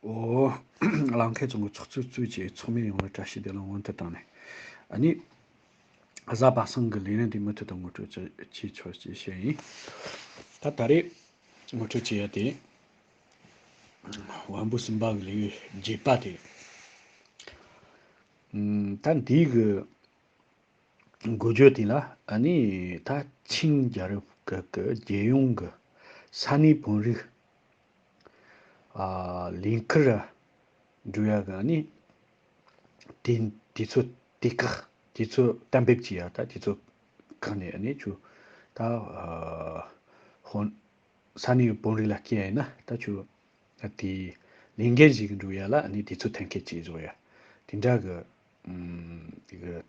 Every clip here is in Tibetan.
ལང་མཁན་ཚོ་ངོ་ཚོགས་ཚུལ་གཙོས་ཀྱི་ཚོགས་མི་ཡོངས་ལ་བཀྲ་ཤིས་བདེ་ལེགས་སྔོན་དུ་བཏང་ནས། གཉིས། གཟའ་པ་སངས་ཀྱི་ལས་རིམ་དེ་མུ་མཐུད་དུ་ངོ་སྤྲོད་བྱེད་ཀྱི་ཆོག་ཅེས་བཤད་ཡིན། ད་ད་རེས་ངོ་སྤྲོད་བྱེད་ཡ་དེ། དབང་པོ་གསུམ་པ་གི་ལས་རྒྱས་པ་དེ། ད་འདིའི་གི་འགུལ་སྐྱོད་དེ་ལ་ནི་ད་ཆིང་རྒྱལ་རབས་སྐབས་ཀྱི་རྒྱལ་ཡོངས་ཀྱི་ས་གནས་བོན་རིགས། ལིང་ཁུ་ར་འབྲུ་ཡ་ག་ནི། དེ་དེ་ཚོ་དེ་ཁག་དེ་ཚོ་གཏན་འབེབས་ཀྱི་ཡ་ད་དེ་ཚོ་ཁག་ནས་ནི་ཆུ་ད་ཧོན་ས་གནས་ཡུལ་དཔོན་རིགས་ལ་སྐྱེ་ཡ་ཡིན་ན་ད་ཆུ་དེ་ལིང་གན་ཞིག་གི་འབྲུ་ཡ་ལ་ནི་དེ་ཚོ་ཐན་སྐད་ཅེས་བཟོ་ཡ་དེ་འདྲ་གི་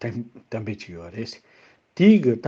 གཏན་འབེབས་ཅིག་ཡོད་རེད། དེའི་གི་ད་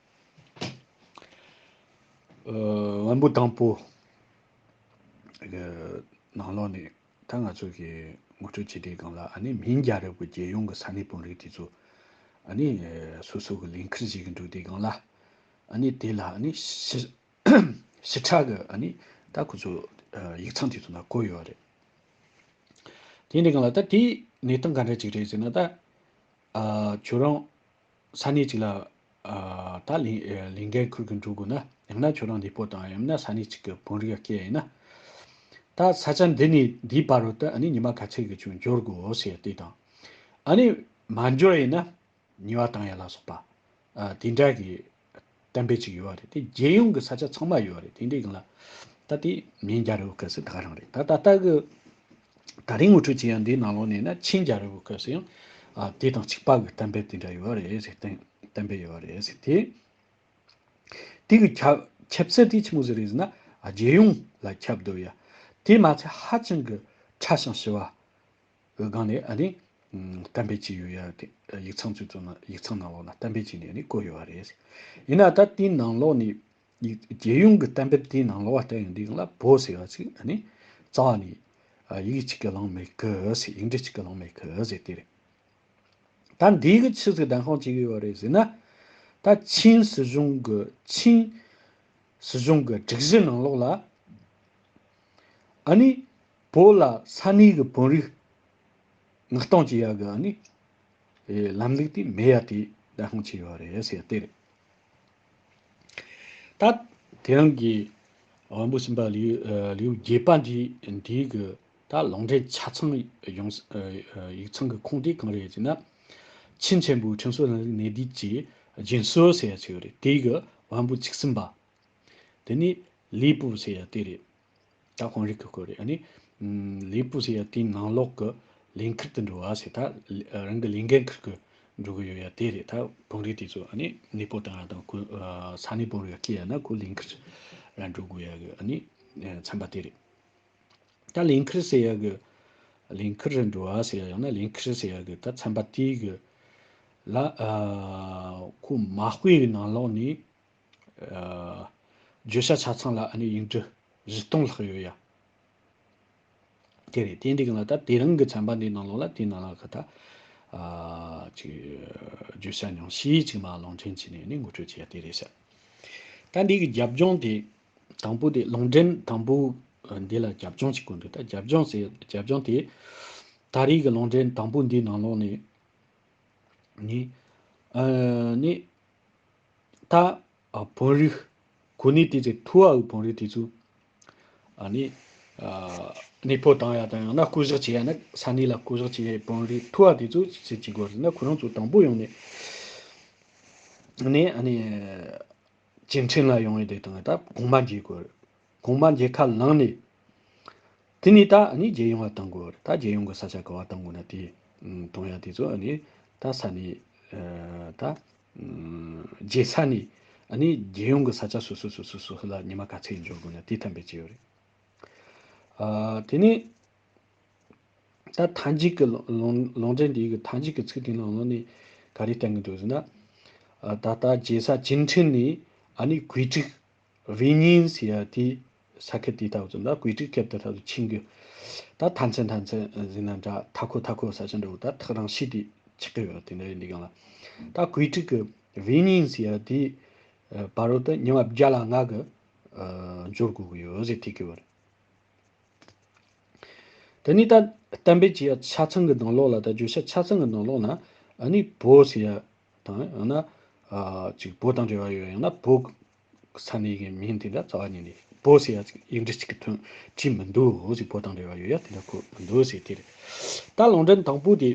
ལམ་བུ་དང་པོ། གི་ནང་ལོགས་ནས་ད་ང་ཚོ་གི་ངོ་སྤྲོད་བྱེད་དེ་གང་ལ་ཨ་ནི་མིང་རྒྱ་རབས་ཀྱི་རྒྱལ་ཡོངས་ཀྱི་ས་གནས་དཔོན་རིགས་དེ་ཚོ་ཨ་ནི་སོ་སོ་གི་ལས་འཁུར་བྱེད་ཀྱི་འདུག་དེ་གང་ལ་ཨ་ནི་དེ་ལ་ཨ་ནི་ཕྱི་ཕྱི་ཕྲག་གི་ཨ་ནི་ད་ཁོ་ཚོ་ཡིག་ཚང་དེ་ཚོ་ན་བཀོད་ཡོད་རེད། དེ་ནས་གང་ལ་ད་དེ་གནས་སྟངས་ག་འདྲ་ཅིག་རེད་ཟེར་ན་ད། ཁྱོད་རང། ས་གནས་གཅིག་ལ། ད། ལིང་གའི་ཁུར་གྱིས་འགྲོ་དགོས་ན། ཡང་ན་ཁྱོད་རང་འདི་སྤོ་དང་ཡང་ན་ས་གནས་གཅིག་གི་བོན་རིགས་ལ་སྐྱེས་ཡིན་ན། ད་ས་ཆ་འདི་ནས་འདིའི་བར་དུ་ཨ་ནི་ཉི་མ་ག་ཚད་ཀྱིས་ཀྱང་འབྱོར་དགོས་ཞེས་དེ་དང། ཨ་ནི། མ་འབྱོར་ཡིན་ན། ཉི་བ་དང་ཡ་ལ་སོགས་པ། དེ་འདྲ་གི། བསྟན་པའི་ཅིག་ཡོད་རེད་དེ་རྒྱལ་ཡོངས་ཀྱི་ས་ཆ་ཚང་མ་ཡོད་རེད་དེ་འདྲའི་ལ་ད་དེ་མིན་རྒྱ་རི་བོ་སྐད་སེ་ད་རང་རེད་ད་ད་ལྟ་གི་ད་རིང་ངོ་སྤྲོད་བྱེད་ཡ་འདིའི་ནང་ལོག་ནས་ན་ཆིན་རྒྱ་རི་བོ་སྐད་སེ་ཡང་དེ་དང་ཆིག་པ་གི་བསྟན་པའི་དེ་འདྲ་ཡོད་རེད་ཟེར་བསྟན་བསྟན་པའི་ཡོད་རེད་ཟེར་དེ། དེ་གི་ཁྱབ་ཁྱབ་ཚད་དེ་ཆི་མོ་ཟེར་རེད་ཟེར་ན་རྒྱལ་ཡོངས་ལ་ཁྱབ་བསྡོད་ཡ་དེ་མ་ཚད་ཧ་ཅང་གི་ཁྲ་ཞིང་ཞི་བ་འོད་སྒང་ནས་ཨ་ནི། གཏམ་དཔེ་གཅིག་ཡོད་ཡ། ཡིག་ཚང་ཚོས་བཙུགས་ན་ཡིག་ཚང་ནང་ལོགས་ན་གཏམ་དཔེ་གཅིག་ནས་ཨ་ནི་བཀོད་ཡོད་བ་རེད། ཡིན་ན་ད་དེའི་ནང་ལོགས་ནས། རྒྱལ་ཡོངས་ཀྱི་གཏམ་དཔེར་དེའི་ནང་ལོགས་བ་བལྟ་ཡོང་དུས་ལ་བོ་ཟེར་བ་ཚིག་ཨ་ནི། རྩ་བ་ནས། ཡིག་གཅིག་གི་ལང་མེ་ཁི་ཨི་ཟེར་ཡིག་འབྲི་གཅིག་གི་ལང་མེ་ཁི་ཨི་ཟེར་དེ་རེད། ད་འདིའི་གི་ཕྱི་ཟིག་ལྡན་ཁང་གཅིག་ཡོད་བ་རེད་ཟེར་ན། ད་ཆིན་སྲིད་གཞུང་གི་ཆིན། སྲིད་གཞུང་གི་སྒྲིག་གཞི་ནང་ལོགས་ལ། ཨ་ནི། བོ་ལ་ས་གནས་ཀྱི་བོན་རིགས་མངགས་གཏོང་བྱེད་ཡག་གི་ནི་ལམ་ལུགས་དེ་མེད་ཡ་དེ་བདག་སྔོན་ཆད་ཡོད་རེད་ཟེར་དེ་རེད། ད་དེ་རིང་གི་བོན་པོ་སེམས་པ་ལེའུ་བརྒྱད་པ་འདི་འདིའི་གི་ད་ལུང་འདྲེན་ཆ་ཚང་ཡོང་ཡིག་ཚང་གི་ཁུངས་དེ་གང་རེད་ཅེ་ན། ཆིན་ཆེན་པོའི་ཁྲིམས་སྲོལ་ལམ་ལུགས་གནད་བསྡུས་ཀྱི་རྒྱུན་སྲོལ་ཟེར་ཡ་ཆེ་གི་རེད་དེའི་གི་བོན་པོ་ཚིག་གསུམ་པ་དེ་ནི་ལེའུ་པོ་ཟེར་ཡ་དེ་རེད། ད་གོང་རིགས་ཀྱི་སྐོར་རེད། ལས་སྤུ་ཟེར་ཡ་དེའི་ནང་ལོགས་ཀྱི་ལས་འཁུར་དུ་འགྲོ་བ་ཟེར་ད་རང་གི་ལས་འགན་འཁུར་གྱི་འགྲོ་གི་ཡོད་ཡ་དེ་རེད་ད་གོང་རིགས་དེ་ཚོ་གནས་སྤོ་བཏང་ཡ་དང་ས་གནས་སྤོ་རུ་ཡ་སྐྱེལ་ཡ་ན་ཁོ་ལས་འཁུར་ར་འགྲོ་དགོས་ཡ་གི་ཚན་པ་དེ་རེད། ད་ལས་འཁུར་ཟེར་ཡ་གི་ལས་འཁུར་རུ་འགྲོ་བ་ཟེར་ཡ་ཡང་ན་ལས་འཁུར་ཟེར་ཡ་གི་ད་ཚན་པ་དེའི་གི་ལ་ཁོ་མ་སྤོས་གི་ནང་ལོགས་ནས་བརྗོད་བྱ་ཆ་ཚང་ལ་ཨ་ནེ་དབྱིན་ཀྲི་བཞི་སྟོང་ལྷག་ཡོད་ཡ། དེ་རེད་དེ་འདི་གང་ལ་ད་དེ་རང་གི་ཚན་པ་འདི་ནང་ལོག་ལ་དེ་ནང་ལ་ཁ་ད་ཅིག་བརྗོད་བྱ་ཉུང་ཤས་ཅིག་མ་ལོང་འདྲེན་བྱས་ནས་ནི་ངོ་སྤྲོད་བྱས་ཡ་དེ་རེད་ཤག། ད་འདི་གི་རྒྱབ་ལྗོངས་དེ་དང་པོ་དེ་ལུང་འདྲེན་དང་པོ་འདི་ལ་རྒྱབ་ལྗོངས་ཅིག་དགོས་འདུག་ད་རྒྱབ་ལྗོངས་ཟེར་རྒྱབ་ལྗོངས་དེ་ད་རེས་ཀྱི་ལུང་འདྲེན་དང་པོ་འདི་ནང་ལོག་ནས་ནི་ཨ་ནེ་ད་བོན་རིགས་གོ་ནི་དེ་ཚོའི་ཐུ་བའི་བོན་རིགས་དེ་ཚོས་ནི་ནི་ཕོ་བཏང་ཡ་དང་ཡང་ན་སྐུ་བཞག་བྱེད་ཡ་ནི་ས་གནས་ལ་སྐུ་བཞག་བྱེད་ཡའི་བོན་རིགས་ཐུ་བ་དེ་ཚོས་ཅི་བྱེད་དགོས་ཟེར་ན་ཁོ་རང་ཚོ་དང་པོ་ཡོང་ནས་ནི་ཨ་ནི་བྱེ་འཕྲེང་ལ་ཡོང་ཡོད་དེ་དང་ད་གོང་མ་འཇལ་དགོས་རེད། གོང་མ་མཇལ་ཁ་ལངས་ནས། དེ་ནས་ད་ནི་རྒྱལ་ཡོངས་བ་དང་གོ། ད་རྒྱལ་ཡོངས་གི་ས་ཆ་ག་བ་དང་གོ་ན་དེ། དང་ཡང་དེ་ཚོ་ནི། ད་ས་ནི། ད། རྒྱལ་ས་ནི། ནི་རྒྱལ་ཡོངས་གི་ས་ཆ་སོ་སོ་སོ་སོ་སོ་ལ་ཉི་མ་ག་ཚད་འབྱོར་དགོས་ན་དེ་ཐམས་པས་བྱས་ཡོད་རེད། དེ་ནས། ད་མཐའ་མཇུག་གི་ལོང་འདྲེན་འདི་གི་མཐའ་མཇུག་གི་ཚིག་དེ་ནང་ལོགས་ནས། ག་རེ་བསྟན་གི་འདུག་ཟེར་ན། ད་ལྟ་རྒྱལ་ས་བྱིན་ཁྲིན་ནི། ནི་གོས་དྲུག། བྷི་ཉིན་སི་ཡ་དེ་ས་ཁད་དེ་དག་ཚོ་ལ་གོས་དྲིག་ཁེབ་དེ་དག་ཚོ་ཆིངས་གི། ད་ཐ་མཚན་ཐ་མཚན་ཟིག་ན་འདྲ་ཐ་ཁོ་ཐ་ཁོ་ཟ་ཆ་འདྲ་བོ་ད་ཐག་རང་ཤི་དེ་ཆི་གི་ཡོད་དེ་འདྲ་ཡིན་འདི་གང་ལ། ད་གོས་དྲིག་གི་བྷི་ཉིན་སི་ཡ་དེ་བ་རོ་ད་ཉི་མ་བརྒྱ་ལ་ང་གི་འབྱོར་དགོས་གི་ཡོད་ཟིག་ཐི་གི་བར། དེ་ནི་ད་གཏན་འབེབས་ཀྱི་ཡ་ཆ་ཚང་གི་དང་ལོག་ལ་ད་བརྗོད་བྱ་ཆ་ཚང་གི་དང་ལོག་ན་ཨ་ནི་བོ་སི་ཡ་དང་ཡང་ན་ཅིག་བོ་དང་འབྲེལ་བ་ཡོད་ཡང་ན་བོ། ས་གནས་ཀྱི་མིང་དེ་འདྲ་རྩ་བ་ཉིད་ནས་བོ་ཟེར་ཡ་ཅིག་ཡིག་འབྲི་ཅིག་གི་དོན་བྲིས་མི་འདུག་ཅིག་བོ་དང་འབྲེལ་བ་ཡོད་ཡ་དེ་འདྲ་ཁོ་མི་འདུག་ཟེར་དེ་རེད། ད་ལུང་འདྲེན་དང་པོ་དེ།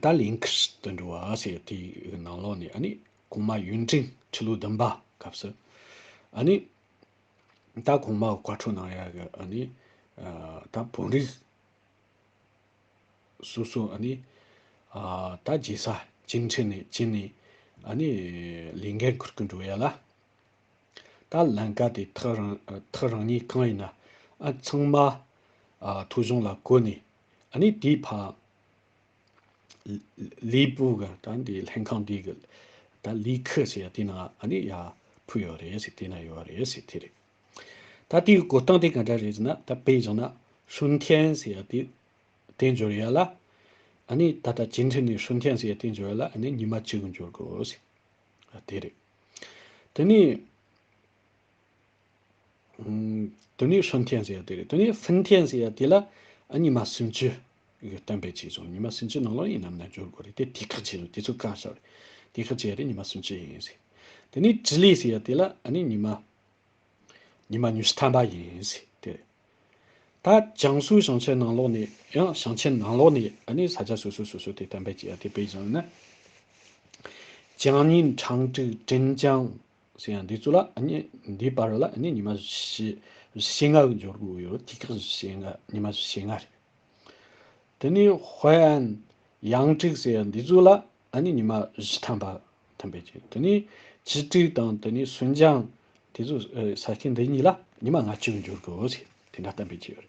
ད་ལིང་ཁིར་དུ་འབྲི་བ་ཟེར་དེ་ནང་ལོགས་ནས་ཨ་ནི་གོང་མ་ཡུན་ཀྲེང་ཁྲི་ལོ་བདུན་པ་སྐབས་སུ། ཨ་ནི། ད་གོང་མ་བཀའ་འཁྲོལ་གནང་ཡ་གི་ཨ་ནི། ད་བོན་རིགས། སོ་སོ་ཨ་ནི། ད་རྗེས་ས་བཅིངས་ཁྲི་ནས་བཅིངས་ནས་ཨ་ནི། ལས་འགན་འཁུར་གི་འགྲོ་ཡ་ལ། ད་ལན་ག་དེ་ཐག་རིང་ཐག་རིང་ཉིད་གང་ཡིན་ན་ཨ་ཚང་མ། ཐུགས་གཞུང་ལ་བཀོད་ནས་ཨ་ནི་དེའི་ཕ། ལས་པུ་ག་ད་འདི་ལྷན་ཁང་འདི་གི། ད་ལས་ཁུ་ཟེར་ཡ་དེ་ན་ཨ་ནི་ཡ་ཕུད་ཡོད་རེད་ཟེར་དེ་ན་ཡོད་རེད་ཟེར་དེ་རེད། ད་དེའི་བསྒོ་སྟངས་དེ་ག་འདྲ་རེད་ཟེར་ན་ད་དཔེ་བཞག་ན་ཧྲུན་མཁན་ཟེར་ཡ་དེ་དེ་འབྱོར་ཡ་ལ། ཨ་ནི་ད་ལྟ་ཇེ་འཕྲིན་ནས་ཧྲུན་མཁན་ཟེར་ཡ་དེ་འབྱོར་ཡ་ལ་ཨ་ནི་ཉི་མ་གཅིག་གི་འབྱོར་དགོས། ཨ་དེ་རེད། དེ་ནས། དེ་ནས་ཧྲུན་མཁན་ཟེར་ཡ་དེ་རེད་དེ་ནས་ཧྥིན་མཁན་ཟེར་ཡ་དེ་ལ་ཨ་ཉི་མ་སུམ་ཅུ་གི་གཏན་འབེབས་བྱས་སོང་ཉི་མ་སུམ་ཅུ་ནང་ལོགས་ཡིན་ནམ་ན་འབྱོར་དགོས་རེད་དེ་དེ་ཁག་བྱས་སོང་དེ་ཚོ་བཀག་བཞག་རེད། དེ་ཁག་བྱས་ཡ་དེ་ཉི་མ་སུམ་ཅུ་ཡིན་ཟེར། དེ་ནས་ཇི་ལི་ཟེར་ཡ་དེ་ལ་ཨ་ནི་ཉི་མ་ཉི་མ་ཉི་ཤུ་ཐམ་པ་ཡིན། དེ་ད་ཅང་སུའུ་ཞིང་ཆེན་ནང་ལོགས་ནས་ཡང་ཞིང་ཆེན་ནང་ལོགས་ནས་ཨ་ནི་ས་ཆ་སོ་སོའི་སོ་སོའི་དེ་དམ་པའི་རྗེ་ཡ་དེ་དཔེ་བཞིན་ནི། བྱང་ཉིན་ཁྲང་ཀྲི་ཀྲིན་ཅང་ཟེར་ཡང་འདི་ཚོ་ལ་ཨ་ནི་འདི་པར་ལ་ཨ་ནི་ཉི་མ་བཞི་ཞེ་ལྔ་གི་འབྱོར་དགོས་ཡོད་དུས་ཁག་བཞི་ཞེ་ལྔ་ཉི་མ་བཞི་ཞེ་ལྔ་རེད། དེ་ནི་ཧོའེ་ཨན་ཡང་ཀྲིག་ཟེར་ཡང་འདི་ཚོ་ལ་ཨ་ནི་ཉི་མ་བཞི་ཐམ་པ་ཐམ་པའི་རྗེས་དེ་ནས་བྱི་སྤྲུལ་དང་དེ་ནས་སུན་ཅང་དེ་ཚོས་ས་སྐྱ་འདི་གཉིས་ལ་ཉི་མ་ལྔ་བཅུར་འགྱུར་དགོས་ཞེས་དེ་འདྲ་བསྟན་པའི་རྗེས་རེད།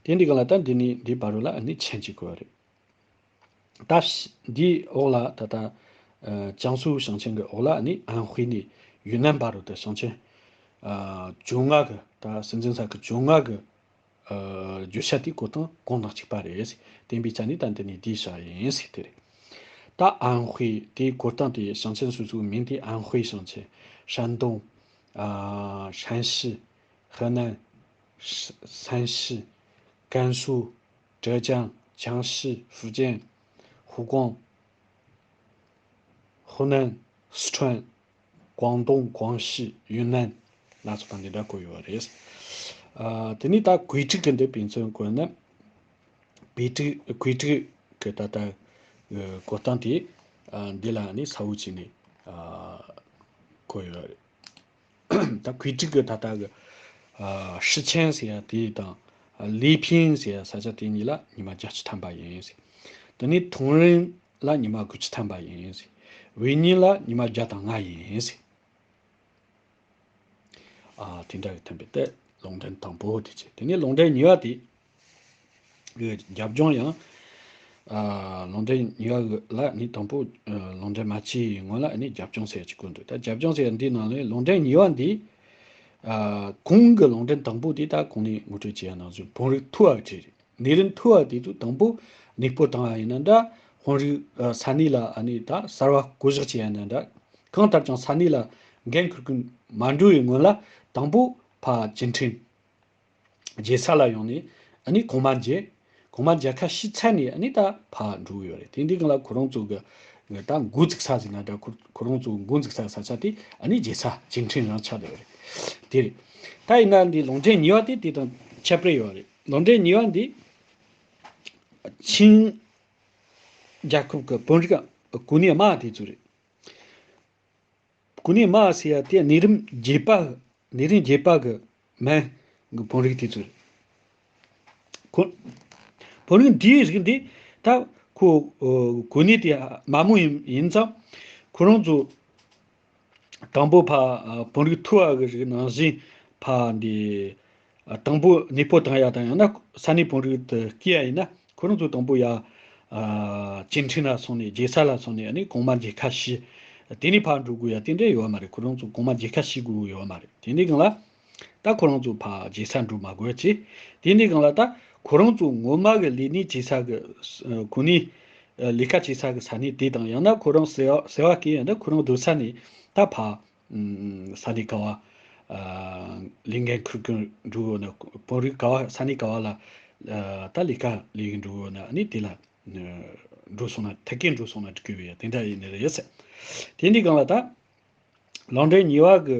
དེ་འདི་ག་ལ་ད་འདི་ནས་འདི་བར་རོ་ལ་ཨ་ནི་མཆན་གཅིག་དགོས་རེད། སྟབས་འདིའི་འོག་ལ་ད་ལྟ་ཅང་སུའུ་ཞིང་ཆེན་གྱི་འོག་ལ་ཨ་ནི་ཨན་ཧུའེ་ནས་ཡུན་ནན་བར་རོ་ད་ཞིང་ཆེན། ཇོ་ལྔ་གི་ད་སྲིད་འཛིན་ས་ཁུལ་ཇོ་ལྔ་གི། བརྗོད་བྱ་དེའི་གོ་དོན་གང་དང་གཅིག་པ་རེད། བསྟན་པའི་བྱ་ནི་ད་འདི་ནས་འདིའི་བྱ་ཡིན། དེ་རེད། ད་ཨན་ཧུའེ་དེའི་གོ་དོན་དེ་ཞིང་ཆེན་སོ་སོའི་མིང་དེ་ཨན་ཧུའེ་ཞིང་ཆེན། ཧྲན་ཏུང། ཧྲན་ཞི། ཧི་ནན། ཧྲན་ཞི། ཀན་སུའུ། ཀྲེ་ཅང། ཅང་ཞི། ཧྥུ་ཅན། ཧུའུ་ཀོང། ཧུའུ་ནན། སི་ཁྲོན། ཀོང་ཏུང་ཀོང་ཤི་ཡུན་ནན་སྣ་ཚོགས་དང་འདི་འདྲ་བཀོད་ཡོད་པ་རེད། དེ་ནི་ད་གོས་དཀྲིགས་གི་འདི་ཕན་ཚུན་བཀོད་ན། བེ་དཀྲིགས་གོས་དཀྲིགས་གི་ད་ལྟ་བཀོད་སྟངས་དེ་འདི་ལ་ནི་ཚ་བོ་བྱས་ནས་བཀོད་ཡོད་རེད། ད་གོས་དཀྲིགས་གི་ད་ལྟ་གི་ཧྲི་ཆན་ཟེར་ཡ་དེ་དང་ལི་ཕིན་ཟེར་ཡ་ས་ཆ་དེ་གཉིས་ལ་ཉི་མ་བརྒྱ་བཅུ་ཐམ་པ་ཡིན། དེ་ནི་ཐུང་རིན་ལ་ཉི་མ་དགུ་ཆུ་ཐམ་པ་ཡིན། འི་ཉིན་ལ་ཉི་མ་བརྒྱ་དང་ལྔ་ཡིན། དེ་འདྲ་བའི་ཐམ་པའི་རྟས་ལོང་འདྲེན་དང་པོ་དེ་བྱེད། དེ་ནས་ལོང་འདྲེན་ཉི་བ་དེ། གི་རྒྱབ་ལྗོངས་ཡང། ལོང་འདྲེན་ཉི་བ་གི་ལ་ནི་དང་པོ། ལོང་འདྲེན་མ་ཕྱི་ཡི་ངོས་ལ་ནི་རྒྱབ་ལྗོངས་ཟེར་གྱི་ཀུན་འདུག་ད་རྒྱབ་ལྗོངས་ཟེར་འདིའི་ནང་ལོས་ལོང་འདྲེན་ཉི་བ་འདི། གུང་གི་ལོང་འདྲེན་དང་པོ་དེ་ད་གུང་ནས་ངོ་སྤྲོད་བྱས་ཡ་ནང་བཞིན་བོང་རིགས་ཐུ་བ་བྲིས་རེད། ནད་རིམས་འཐུ་བ་དེ་དུས་དང་པོ་ནིག་པོ་དང་ཡིན་ན་འདྲ། དཔོན་རིགས་ས་གནས་ལ་ནི་ད་གསར་བ་བསྐོ་གཞག་བྱས་ཡིན་ན་འདྲ། གང་ལྟར་ཀྱང་ས་གནས་ལ་འགན་ཁུར་མཁན་མ་འགྲོ་བའི་སྔོན་ལ་དང་པོ་ཕ་སྤྱི་འཕྲིན་རྒྱལ་ས་ལ་ཡོང་ནས་ནི་གོང་མ་མཇལ། གོང་མ་མཇལ་ཁ་ཤི་ཚར་ནས་ནི་ད་ཕ་འགྲོ་གི་ཡོད་རེད་དེ་འདི་གང་ལ་ཁོ་རང་ཚོ་གི་ད་མགོ་འཛུགས་ས་ཟིག་ན་འདྲ་ཁོ་རང་ཚོ་མགོ་འཛུགས་ས་ས་ཆ་དེ་ནི་རྒྱལ་ས་སྤྱི་འཕྲིན་རང་ཆགས་དེ་ཡོད་རེད་དེ་རེད། ད་ཡིན་ན་འདི་ལུང་འདྲེན་ཉེ་བ་དེ་དེ་དང་ཁྱད་པར་ཡོད་རེད། ལོ་འབྲས་ཉིས་བ་འདི་ཆིངས་རྒྱལ་ཁབ་ཀྱི་བོན་རིགས་གུ་ནི་དམག་དེ་ཚོ་རེད། གུ་ནི་དམག་ཟེར་ཡ་དེ་ནི་རིམ་རྒྱས་པ་ནི་རིམ་རྒྱས་པ་གི་མན་གི་བོན་རིགས་དེ་ཚོ་རེད། ཁོ་བོན་རིགས་འདིའི་རིགས་འདི་ད་ཁོ་གུ་ནི་དེ་དམག་མོ་ཡིན་ཡིན་ཙང་ཁོ་རང་ཚོ་དང་པོ་ཕ་བོང་རིགས་ཐུ་བ་གི་རིགས་ནང་བཞིན་ཕ་འདི། དང་པོ་ནི་ཕོ་དང་ཡ་དང་ཡང་ན་ས་ནི་བོང་རིགས་དུ་སྐྱེ་ཡ་ཡིན་ན་ཁོ་རང་ཚོ་དང་པོ་ཡ། སྐྱེ་འཕྲིན་ལ་སོང་ནས་རྒྱལ་ས་ལ་སོང་ནས་ནི་གོང་མ་རྒྱལ་ཁ་ཤི། དེ་ནི་ཕ་འགྲོ་དགོས་ཡ་དེ་འདྲ་ཡོད་མ་རེད་ཁོ་རང་ཚོ་གོང་མ་རྒྱལ་ཁ་ཤི་དགོས་ཡོད་མ་རེད་དེ་ནི་གང་ལ། ད་ཁོ་རང་ཚོའི་བར་བྱེ་ས་འགྲོ་མ་དགོས་ཅི། དེ་ནི་གང་ལ་ད། ཁོ་རང་ཚོ་ངོ་མ་གི་ལས་ནི་བྱེ་ས་གི། གོ་ནི། ལས་ཀ་བྱེ་ས་གི་ས་ནི་དེ་དང་ཡང་ན་ཁོ་རང་ཟེ་བ་ཟེ་བ་ཀི་ཡང་ན་ཁོ་རང་སྡོད་ས་ནི་ད་བ། ས་ནི་ག་བ། ལས་འགན་འཁུར་གི་འགྲོ་གི་ཡོད་ན་བོད་རིགས་ག་བ་ས་ནི་ག་བ་ལ། ད་ལས་ཀ་ལས་གི་འགྲོ་གི་ཡོད་ན་ནི་དེ་ལ། འགྲོ་སོང་ན་ཐད་ཀའི་འགྲོ་སོང་ན་གི་ཡོད་ཡ་དེ་འདྲ་ཡི་ནི་རེད་ཟེར། དེ་ནི་གང་ལ་ད། ལང་འདྲེ་ཉི་བ་གི།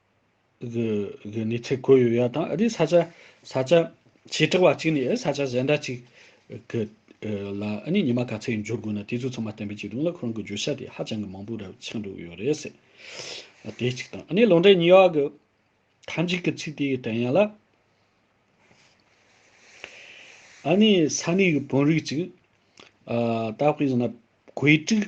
གི་ནི་ཚེ་གོས་ཡོད་ཡ་དང་རི་ས་ཆ་ས་ཆ་བྱེ་བྲག་བ་གཅིག་ནི་ཨེ་ས་ཆ་གཞན་འདྲ་གཅིག་གི་ལ་ནི་ཉི་མ་ག་ཚད་འབྱོར་དགོས་ན་དེ་ཚོ་ཚང་མ་བསྟན་པའི་བྱེ་ཐུང་ལ་ཁོ་རང་གི་བརྗོད་བྱ་དེ་ཧ་ཅང་གི་མང་པོ་རབ་ཆགས་འགྲོ་གི་ཡོད་རེད་ཟེར། དེ་གཅིག་དང་ནི་ལོ་འབྲས་ཉི་ཡོག་གི་ཐ་འཇིག་གི་ཚིག་དེའི་དོན་ཡང་ལ། ཨ་ནི་ས་གནས་གི་བོན་རིགས་གཅིག། ད་དཔེ་བཞིན་ན་གོས་དཀྲིགས།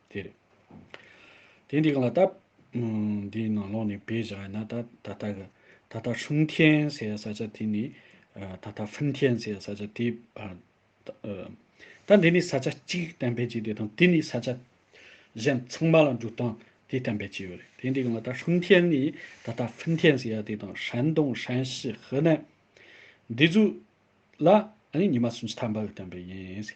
དེ་རེད། དེ་འདི་གང་ལ་བལྟ། འདིའི་ནང་ལོགས་ནས་བེད་བཞག་ཡིན་ན་ད་ད་ལྟ་གི་ད་ལྟ་ཧྲུན་ཐེན་ཟེར་བའི་ས་ཆ་དེ་ནི། ད་ལྟ་ཧྥིན་ཐེན་ཟེར་བའི་ས་ཆ་དེ། ད་འདི་ནི་ས་ཆ་གཅིག་གཏན་འབེབས་བྱས་ཏེ་དང་དེ་ནི་ས་ཆ་གཞན་ཚང་མ་ལ་འགྲོ་སྟངས་དེ་གཏན་འབེབས་བྱས་ཡོད་རེད། དེ་འདི་གང་ལ་བལྟ་ཧྲུན་ཐེན་ནི་ད་ལྟ་ཧྥིན་ཐེན་ཟེར་བ་དེ་དང་ཧྲན་ཏུང་ཧྲན་ཞི་ཧི་ནན། འདི་ཚོ་ལ་ནི་ཉི་མ་སུམ་ཅུ་ཐམ་པ་གི་གཏན་འབེབས་ཡིན།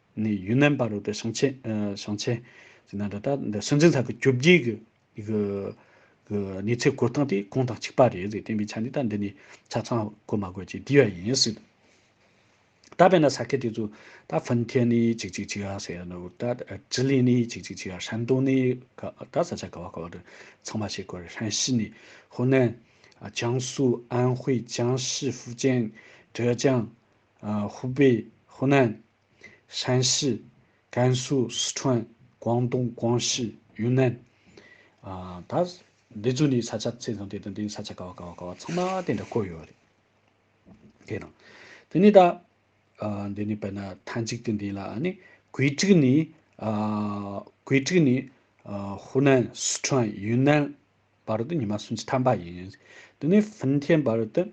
ནི་ཡུན་ནན་པར་རོལ་པའི་ཞིང་ཆེན། ཞིང་ཆེན། ཅིག་ན་འདྲ་ལྟར་འདི་སྲིད་འཛིན་ལྷ་ཁུ་བཅུ་བརྒྱད་ཀྱི། གནས་ཚད་བཀོད་སྟངས་དེ་གོང་དང་གཅིག་པ་རེད་ཟེར་བསྟན་པའི་ཆ་ནས་ད་འདི་ནས་ཆ་ཚང་བཀོད་མ་དགོས་ཀྱི་དེ་བས་ཡིན་སྲིད། ད་བས་ན་ས་ཁད་དེ་ཚོ་ད་ཧྥིན་ཁེན་ནི་ཅིག་ཅིག་ཅིག་ཨ་ཟེར་ནོ་ད་ཅི་ལིན་ནི་ཅིག་ཅིག་ཅིག་ཨ་ཧྲན་ཏུང་ནི་ག་ད་ས་ཆ་ག་བ་ག་བ་དུ་ཚང་མ་བྱེད་དགོས་རེད་ཧྲན་ཞི་ནི་ཧོ་ནན། ཅང་སུའུ་ཨན་ཧུའེ་ཅང་ཞི་ཧྥུ་ཅན། ཀྲེ་ཅང། ཧུའུ་པེ། ཧུ་ནན། ཧྲན་ཞི། ཀན་སུའུ། ཧྲི་ཁྲོན། ཀོང་ཏུང། ཀོང་ཞི། ཡུན་ནན། ད། འདི་ཚོ་ནི་ས་ཆ་ཚད་ཙམ་དེ་དང་དེའི་ས་ཆ་ཀ་བ་ཀ་བ་ཀ་བ་ཚང་མ་དེ་འདྲ་བཀོད་ཡོད་རེད། དེ་དང། དེ་ནས་ད། འདི་ནི་བལ་ན་ཐ་འཇིག་ཏུ་འདི་ལ་ནི་གོས་དྲུག་ནི། གོས་དྲུག་ནི། ཧུ་ནན། ཧྲི་ཁྲོན། ཡུན་ནན། བར་དུ་ཉི་མ་སུམ་ཅུ་ཐམ་པ་ཡིན། དེ་ནས་ཧྥིན་ཐེན་བར་དུ།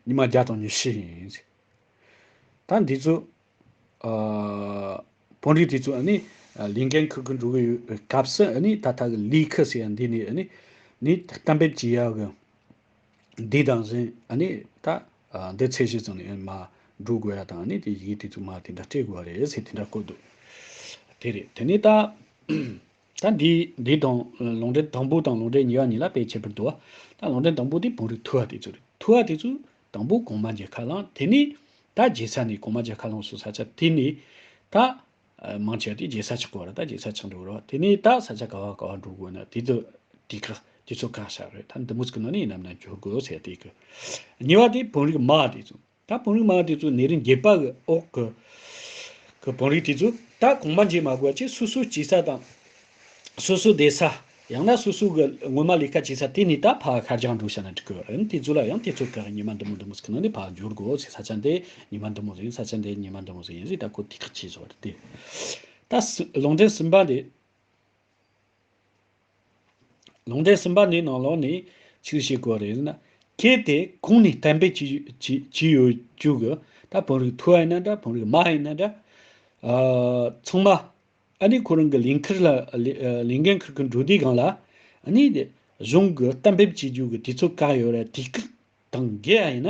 ཉི་མ་བརྒྱ་དང་ཉི་ཤུ་ཡིན། ད་འདི་ཚོ། བོན་རིགས་དེ་ཚོ་ནི། ལིང་གའི་འཁོར་གྱི་འགྲོ་བའི་སྐབས་སུ་ནི་ད་ལྟ་གི་ལིའི་ཁུ་ཟེར་བ་འདི་ནི། ནི་གཏམ་དཔེ་བགྱི་ཡག་གི། འདི་དང་གཞན་ནི་ད། འདི་ཚད་གཞི་ཙམ་ནས་མ་འགྲོ་དགོས་ཡ་དང་ནི་དེ་ཡི་གེ་དེ་ཚོ་མ་དེ་འདྲ་སྤྲད་དགོས་པ་རེད་ཟེར་དེ་འདྲ་བཀོད་འདུག་དེ་རེད་དེ་ནས་ད། ད་འདིས་འདི་དང། ལུང་འདྲེན་དང་པོ་དང་ལུང་འདྲེན་ཉེ་བ་གཉིས་ལ་དཔེ་ཁྱད་པར་དུ་བ། ད་ལུང་འདྲེན་དང་པོ་དེ་བོང་རིགས་ཐུ་བ་དེ་ཚོ་རེད། ཐུ་བ་དེ་ཚོས་དང་པོ་གོང་མ་རྒྱལ་ཁ་བླངས་དེ་ནས། ད་རྒྱལ་ས་ནས་གོང་མ་རྒྱལ་ཁ་བླངས་སུ་ས་ཆ་དེ་ནས། ད། མང་ཆེ་བ་དེ་རྒྱལ་ས་ཆགས་དགོས་པ་རེད་ད་རྒྱལ་ས་ཆགས་འགྲོ་དགོས་རེད་དེ་ནས་ད་ས་ཆ་ག་བ་ག་བ་འགྲོ་དགོས་ན་དེ་དུ་དེ་ཁག་དེ་ཚོ་ཁག་ཤར་རེད་ད་འདི་མུ་ཟི་ཀི་ནང་ནས་ནམ་ཡང་འགྱུར་དགོས་ཟེར་དེ་གི། ཉེ་བ་དེ་བོང་རིགས་མ་དེ་ཚོ། ད་བོང་རིགས་མང་དེ་ཚོ་ནད་རིམས་རྒྱས་པ་གི་འོག་གི་གི་བོང་རིགས་དེ་ཚོ་ད་གོང་མ་འཇིག་མ་དགོས་ཀྱི་སོ་སོའི་སྐྱེས་ས་དང། སོ་སོའི་བསྡད་ས། ཡང་ན་སོ་སོའི་གི་སྔོན་མ་ལས་ཀ་བྱས་ས་དེ་ནས་ད་ཕ་ཁ་རྒྱང་འགྲོ་ཤ་ན་འགྲིག་གི་རེད་དེ་ཚོ་ལ་ཡང་དེ་ཚོ་གི་ཉི་མ་འདི་མོ་འདི་མོ་ཟིག་ནང་ནས་ཕ་འབྱོར་དགོས་ཟིག་ས་ཆ་འདི་ཉི་མ་འདི་མོ་ཟིག་ས་ཆ་འདི་ཉི་མ་འདི་མོ་ཟིག་ཡིན་ཟིག་ད་ཁོ་ཐིག་ཁ་བྱས་ཟོ་རེད་དེ། ད་སི་ལོང་འདྲེན་སིམ་པ་འདི། ལུང་བསྟན་ཟིན་པ་ནི་ནང་ལོགས་ནས་ཕྱིར་ཤེས་དགོས་རེད་ན། གལ་ཏེ་གུང་ནས་གཏན་འབེབས་བྱས་ཡོད་རྒྱུ་གི་ད་བོན་རིགས་ཐུ་ཨེ་ན་འདྲ་བོན་རིགས་མ་ཨེ་ན་འདྲ། ཚང་མ་ཨ་ནི་ཁོ་རང་གི་ལས་འཁེར་ལ་ལས་འགན་འཁུར་གི་འགྲོ་དུས་གང་ལ་ཨ་ནི་གཞུང་གི་གཏན་འབེབས་བྱས་རྒྱུ་གི་དུས་ཚོད་བཀག་ཡོད་རེད་དུས་སྐབས་དང་འགལ་ཨེ་ན།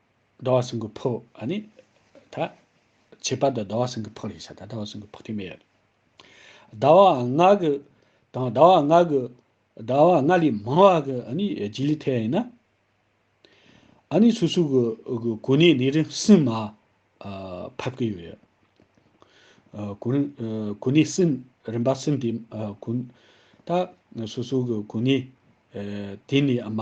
ཟླ་བ་སྲིན་གི་ཕོ་ཨ་ནི། ད། ཁྱད་པར་དུ་ཟླ་བ་སྲིན་གི་ཕོ་རེད་བྱ་ད་ཟླ་བ་སྲིན་གི་ཕོ་ཐེ་མེད། ཟླ་བ་ལྔ་གི། དང་ཟླ་བ་ལྔ་གི། ཟླ་བ་ལྔ་ལས་མང་བ་གི་ཨ་ནི་རྗེས་ལུས་ཐལ་ཡིན་ན། ཨ་ནི་སོ་སོ་གི་གི་གོ་གནས་ནི་རིང་སྲིན་མ། ཕབ་གི་ཡོད་རེད། གོ། གོ་གནས་སྲིན་རིམ་པ་སྲིན་དེ། གོ། ད། སོ་སོ་གི་གོ་གནས། དེ་ནི་མ།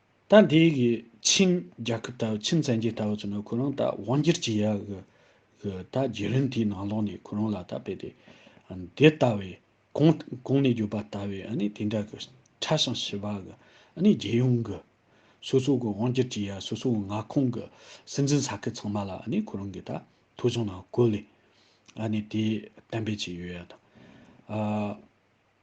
ད་འདི་གི་ཆིང་རྒྱལ་ཁབ་ལྟ་བུ་ཆིང་བཙན་རྒྱལ་ལྟ་བུ་ཚོ་ནི་ཁོ་རང་ད་དབང་སྒྱུར་གྱི་ཡག་གི་གི་ད་རྒྱལ་རིང་དེའི་ནང་ལོགས་ནས་ཁོ་རང་ལ་ད་བལྟས་ཏེ་འདི་ལྟ་བའི་གོང་གོང་ནས་གྱུར་པ་ལྟ་བའི་ཨ་ནི་དེ་འདྲ་གི་ཁྲ་ཞིང་ཞི་བ་གི་ཨ་ནི་རྒྱལ་ཡོངས་གི་སོ་སོ་གི་དབང་སྒྱུར་གྱི་ཡག་སོ་སོ་གི་མངའ་ཁོངས་གི་སྲིད་འཛིན་ས་ཁུལ་ཚང་མ་ལ་ཨ་ནི་ཁོ་རང་གི་ད་ཐོ་བྱུང་ནང་བཀོད་ལེ་ཨ་ནི་དེ་གཏན་འབེབས་བྱས་ཡོད་ཡ་ད་ཨ།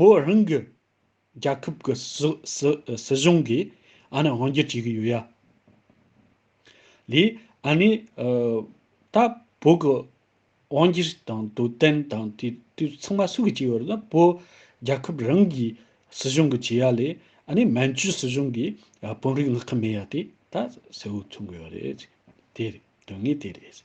བོད་རང་གི་རྒྱལ་ཁབ་ཀྱི་སྲིད་གཞུང་གིས་ཨ་ནི་དབང་སྒྱུར་བྱེད་ཀྱི་ཡོད་ཡ། ལས་ཨ་ནི་ད་བོད་ཀྱི་དབང་སྒྱུར་དང་དོ་དན་དང་དེ་དུས་ཚང་མ་སུ་གིས་བྱེད་ཡོད་ལ་བོད་རྒྱལ་ཁབ་རང་གི་སྲིད་གཞུང་གིས་བྱེད་ཡ་ལས་ཨ་ནི་མན་ཇུའི་སྲིད་གཞུང་གིས་དཔོན་རིགས་མངགས་ཀྱི་མེད་ཡ་དེ་ད་གསལ་བོ་མཚོན་དགོས་ཡ་རེད། དེ་རེད་དོན་དངོས་དེ་རེད།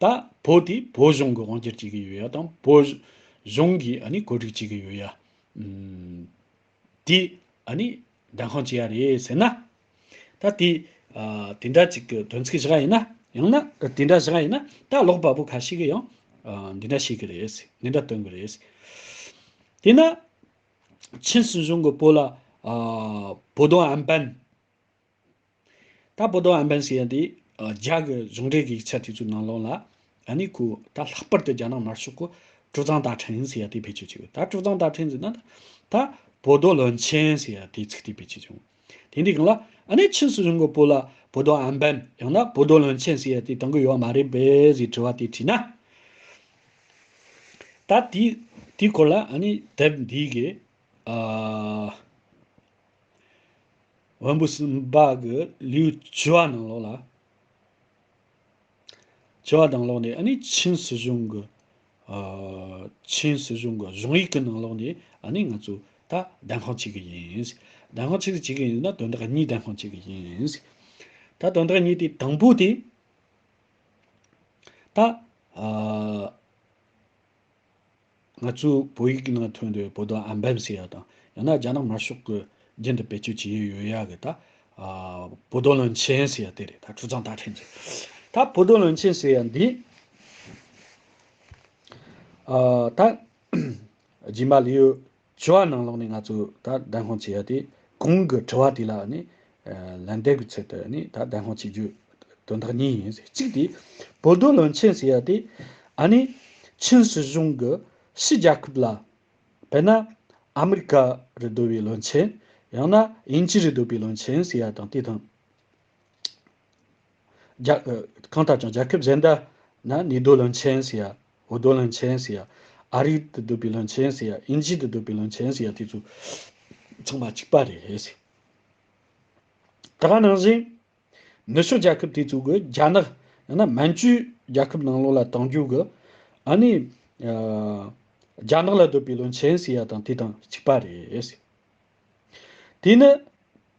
ད་བོད་དེ་བོད་གཞུང་གི་དབང་སྒྱུར་བྱེད་ཀྱི་ཡོད་ཡ་དང་བོད་གཞུང་གི་ཨ་ནི་གོ་སྒྲིག་བྱེད་ཀྱི་ཡོད་ཡ། དེ་ཨ་ནི་སྒྲ་འཁང་བྱེད་ཡ་རེད་ཟེར་ན། ད་དེ་དེ་འདྲ་ཅིག་གི་དོན་ཚིག་བཞག་ཡིན་ན་ཡང་ན། དེ་འདྲ་བཞག་ཡིན་ན་ད་ལོག་པ་པོ་ཁ་ཤིག་གི་ཡང་འདི་འདྲ་བྱེད་ཀྱི་རེད། འདི་འདྲ་སྟོན་གྱི་རེད། དེས་ན་ཆིན་སྲིད་གཞུང་གི་བོད་ལ་བོད་དོན་ཨན་པན། ད་བོད་དོ་ཨན་བན་སི་ཡན་དེ་རྒྱ་གི་གཞུང་འབྲེལ་གི་ཡིག་ཆ་དེ་ཚོའི་ནང་ལོང་ལ་ཨ་ནི་ཁུ་ད་ལྷག་པར་དུ་རྒྱ་ནག་དམར་ཤོག་གི་དཀྲུག་གཙང་ད་ཕྲན་སི་ཡ་དེ་བེད་སྤྱོད་བྱེད་དགོས་ད་དཀྲུག་གཙང་ད་ཕྲན་སི་ན་ད་ད་བོད་དོ་བློན་ཆེན་སི་ཡ་དེ་ཚིག་དེ་བེད་སྤྱོད་བྱུང་དེ་འདི་གང་ལ་ཨ་ནི་ཕྱི་སྲིད་གཞུང་གི་པོ་ལ་བོད་དོ་ཨན་བན་ཡང་ན་བོད་དོ་བློན་ཆེན་སི་ཡ་དེ་དང་གི་ཡོད་མ་རེད་བེ་སི་དྲི་བ་དེ་དྲིས་ན། ད་དེ་དེ་སྐོར་ལ་ཨ་ནི་དེབ་འདི་གི་ཨ། བོན་པོ་སུམ་པ་གི་ལུས་བྱི་བ་ནང་ལོགས་ལ། བྱི་བ་ནང་ལོགས་ནས་ཆིན་སྲིད་གཞུང་གི། ཆིན་སྲིད་གཞུང་གི་གཞུང་ཡིག་གི་ནང་ལོགས་ནས་ང་ཚོ་ད་བདེན་དཔང་བྱེད་ཀྱི་ཡིན། བདེན་དཔང་ཕྱིར་བྱེད་ཀྱི་ཡིན་ན་དོན་དག་གཉིས་བདེན་དཔང་བྱེད་ཀྱི་ཡིན། ད་དོན་དག་གཉིས་དེ་དང་པོ་དེ། ད། ང་ཚོས་བོད་ཡིག་ནང་ཐོན་དུས་བོད་དོན་ཨམ་བན་ཟེར་ཡག་དང་ཡང་ན་རྒྱ་ནག་དམར་ཤོག་གི་རྒྱན་དུ་བེད་སྤྱོད་བྱེད་ཡུལ་ཡོད་ཡག་གི་ད། བོད་དོན་བློན་ཆེན་ཟེར་ཡག་དེ་རེད་ད་ཁྲུ་ཚང་ད་ཕྲན་གྱི། ད་བོད་དོན་བློན་ཆེན་ཟེར་ཡག་འདི། ད། སྦྱིན་པ་ལེའུ་བྱ་བ་ནང་ལོགས་ནས་ང་ཚོས་ད་བདེན་དཔང་བྱེད་ཡ་དེ་གོང་གི་དྲི་བ་དེ་ལ་ནི་ལན་འདེབས་ཀྱི་ཚུལ་དུ་ནི་ད་བདེན་དཔང་བྱེད་རྒྱུ་དོན་དག་གཉིས་ཡིན། གཅིག་དེ་བོད་རྡོ་བློན་ཆེན་ཟེར་ཡ་དེ་ཨ་ནི་ཆིན་སྲིད་གཞུང་གི་ཕྱི་རྒྱལ་ཁབ་ལ་དཔེར་ན་ཨ་མི་རི་ཀ་རི་བསྡོད་པའི་བློན་ཆེན་ཡང་ན་དབྱིན་ཇི་རི་བསྡོད་པའི་བློན་ཆེན་ཟེར་ཡ་དང་དེ་དང། གང་ལྟར་ཀྱང་རྒྱལ་ཁབ་གཞན་དག་ན་ནི་རྡོའི་བློན་ཆེན་ཟེར་ཡ། འོ་རྡོའི་བློན་ཆེན་ཟེར་ཡ། ཨ་རི་དུ་སྡོད་པའི་བློན་ཆེན་ཟེར་ཡ། དབྱིན་ཇི་དུ་སྡོད་པའི་བློན་ཆེན་ཟེར་ཡ་དེ་ཚོ་ཚང་མ་གཅིག་པ་རེད། དེའང་ནང་བཞིན། ནུ་ཞོ་རྒྱལ་ཁབ་དེ་ཚོ་གི་རྒྱ་ནག་ཡང་ན་མན་ཇུའི་རྒྱལ་ཁབ་ནང་ལོགས་ལ་དྭངས་རྒྱུག་གི་ཨ་ནི་རྒྱ་ནག་ལ་སྡོད་པའི་བློན་ཆེན་ཟེར་ཡ་དང་དེ་དང་གཅིག་པ་རེད། དེ་ནི།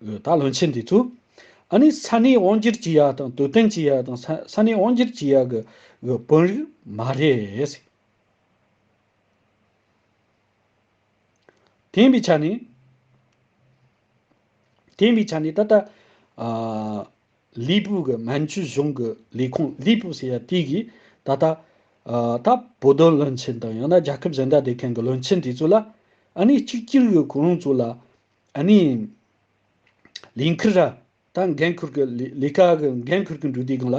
ད་སློན་ཆེན་འདི་ཚོས་ཨ་ནི་ས་གནས་དབང་སྒྱུར་གྱི་ཡ་དང་དུས་སྟོན་གྱི་ཡ་དང་ས་གནས་དབང་སྒྱུར་གྱི་ཡ་གི་དཔོན་རིགས་མ་རེད། དེ་ཡིན་པའི་ཆ་ནས་དེ་ཡིན་པའི་ཆ་ནས་ད་ལྟ་ལི་པུའུ་གི་མན་ཇུ་གཞུང་གི་ལས་ཁུངས་ལི་པུའུ་ཟེར་ཡ་དེ་གིས་ད་ལྟ་ད་བོད་དོན་སློན་ཆེན་དང་ཡང་ན་རྒྱལ་ཁབ་གཞན་དག་སྡེ་མཁན་གི་སློན་ཆེན་དེ་ཚོ་ལ་ཨ་ནི་གཅིག་གྱུར་གྱི་གོ་རིམ་ཚོ་ལ་ཨ་ནི། ལིན་ཁི་ར། ད་འགན་འཁུར་གི། ལི་ཁ་གི་འགན་འཁུར་གི་འབྲུ་དེའི་སྒང་ལ།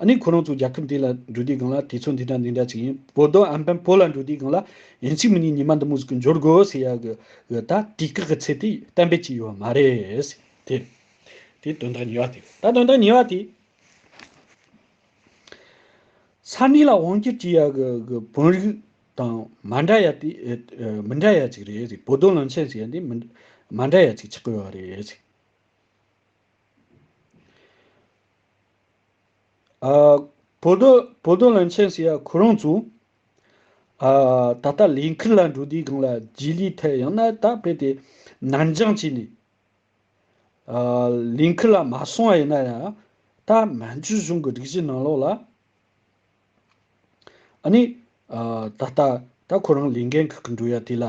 ཨ་ནི་ཁོ་རང་ཚོའི་རྒྱལ་ཁབ་འདི་ལ་འབྲུ་དེའི་སྒང་ལ་དུས་ཚོད་འདི་འདྲ་འདི་འདྲ་ཅིག་ཡིན། བོད་དོན་ཨན་ཕན་བོད་ལ་འབྲུ་དེའི་སྒང་ལ་ཡིན་ཅིག་མི་ཉིན་ཉི་མ་འདི་མུ་ཟིག་གི་འབྱོར་དགོས་ཟེར་ཡག་གི་ཡོད་ད་དུས་བཀག་གི་ཚད་དེ་གཏན་འབེབས་ཅིག་ཡོད་མ་རེད། དེ་དེ་དོན་དག་ཉེ་བ་དེ་ད་དོན་དག་ཉེ་བ་དེ། ས་གནས་ལ་དབང་བསྒྱུར་བྱེད་ཡག་གི་བོད་རིགས། དང་མ་འདྲ་ཡ་དེ་མི་འདྲ་ཡ་ཅིག་རེད་བོ་དོ་ལང་ཆེན་ཟེར་ཡ་དེ་མ་འདྲ་ཡ་ཅིག་ཆགས་ཡོད་རེད། བོ་དོ་བོ་དོ་ལང་ཆེན་ཟེར་ཡ་ཁོ་རང་ཚོ། ད་ལྟ་ལས་འཁུར་ལ་འགྲོ་དུས་སྒང་ལ་རྗེས་ལུས་ཐད་ཡང་ན་ད་བོད་དེ་ནར་འགྱངས་བྱས་ནས། ལས་འཁུར་ལ་མ་སོང་བ་ཡིན་ན་ཡང་ད་མན་ཇུ་གཞུང་གི་སྒྲིག་གཞི་ནང་ལོགས་ལ། ཨཱ་ནི། ད་ལྟ། ད་ཁོ་རང་ལས་འགན་ཁག་གི་འགྲོ་ཡ་དེ་ལ།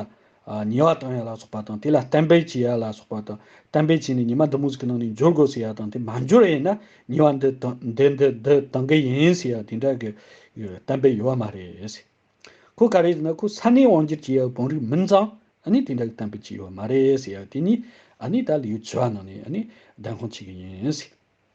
ཉེ་བ་དང་ཡ་ལ་སོགས་པ་དང་དེ་ལ་གཏན་འབེབས་བྱེད་ཡ་ལ་སོགས་པ་དང། གཏན་འབེབས་བྱས་ནས་ཉི་མ་འདི་མོ་ཟིག་གི་ནང་ནས་འབྱོར་དགོས་ཟེར་ཡ་དང་དེ་མ་འབྱོར་ཡས་ན་ཉེ་བ་འདི་འདི་འདི་འདི་དང་གི་ཡིན་ཟེར་ཡ་དེ་འདྲ་གི་གཏན་འབེབས་ཡོད་བ་མ་རེད། ཁོ་ག་རེ་ཟེར་ན་ཁོ་ས་གནས་དབང་སྒྱུར་བྱེད་ཡ་བོང་རིགས་མིན་ཙང་ཨཱ་ནི་དེ་འདྲ་གི་གཏན་འབེབས་བྱས་ཡོད་བ་མ་རེད་ཟེར་ཡ་དེ་གཉིས་ཨཱ་ནི་ད་ལིའུ་ཆུ་བ་ནང་ནས་ཨཱ་ནི་བདེན་དཔང་བྱེད་གི་ཡིན།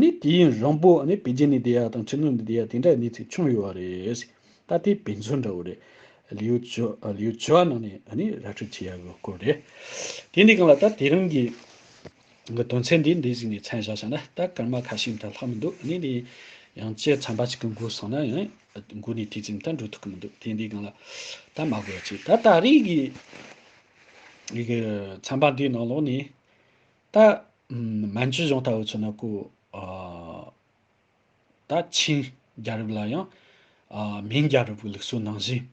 ནི་དེ་ཡིན་རང་པོ་ནི་བེ་ཅིན་ནི་དེ་ཡག་དང་ཆི་ནུ་ནི་དེ་ཡག་དེ་འདྲ་གནས་ཚིག་ཆུང་ཡོད་བ་རེད། ད་དེ་བེ་མཚོན་འདྲ་བོ་རེད། ལིའུ་ཆོ་ལིའུ་ཆོ་ནང་ནས་ནི་ར་འཕྲོད་བྱེད་ཡག་དགོས་སྐོར་རེད། དེ་འདི་གང་ལ་ད་དེ་རིང་གི་གི་དོན་ཚན་འདི་འདི་གཟིགས་ནས་མཚན་བཞག་བྱ་ན་ད་སྐར་མ་ཁ་ཤིག་འདྲ་ལྷག་མི་འདུག་ནི་འདི་ཡང་བཅས་ཚན་པ་ཞིག་གི་མགུར་སོང་ན་ཡང་མགུར་ནི་དེ་ཙམ་ད་འགྲོ་ཐུབ་ཀི་མི་འདུག་དེ་འདི་གང་ལ་ད་མ་དགོས་བ་ཅིག་ད་ད་རིང་གི་གི་ཚན་པ་འདིའི་ནང་ལོགས་ནས་ད། མན་ཇུ་གཞུང་ལྟ་བུ་ཚོ་ནི་སྐུ། ད། ཆིན་རྒྱལ་རབས་ལ་ཡང། མིན་རྒྱལ་རབས་ཀྱི་ལུགས་སྲོལ་ནང་བཞིན།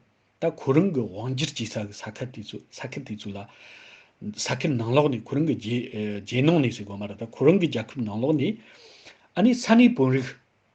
ད་གོ་རིམ་གྱི་དབང་སྒྱུར་གྱིས་ས་གི་ས་ཁུལ་དེ་ཚོས་ས་ཁུལ་དེ་ཚོ་ལ། ས་ཁུལ་ནང་ལོགས་ནས་གོ་རིམ་གྱི་རྗེས་གནང་ནས་ཟེར་དགོས་མ་རེད་ད་གོ་རིམ་གྱི་རྒྱལ་ཁབ་ནང་ལོགས་ནས། ཨ་ནི་ས་གནས་དཔོན་རིགས།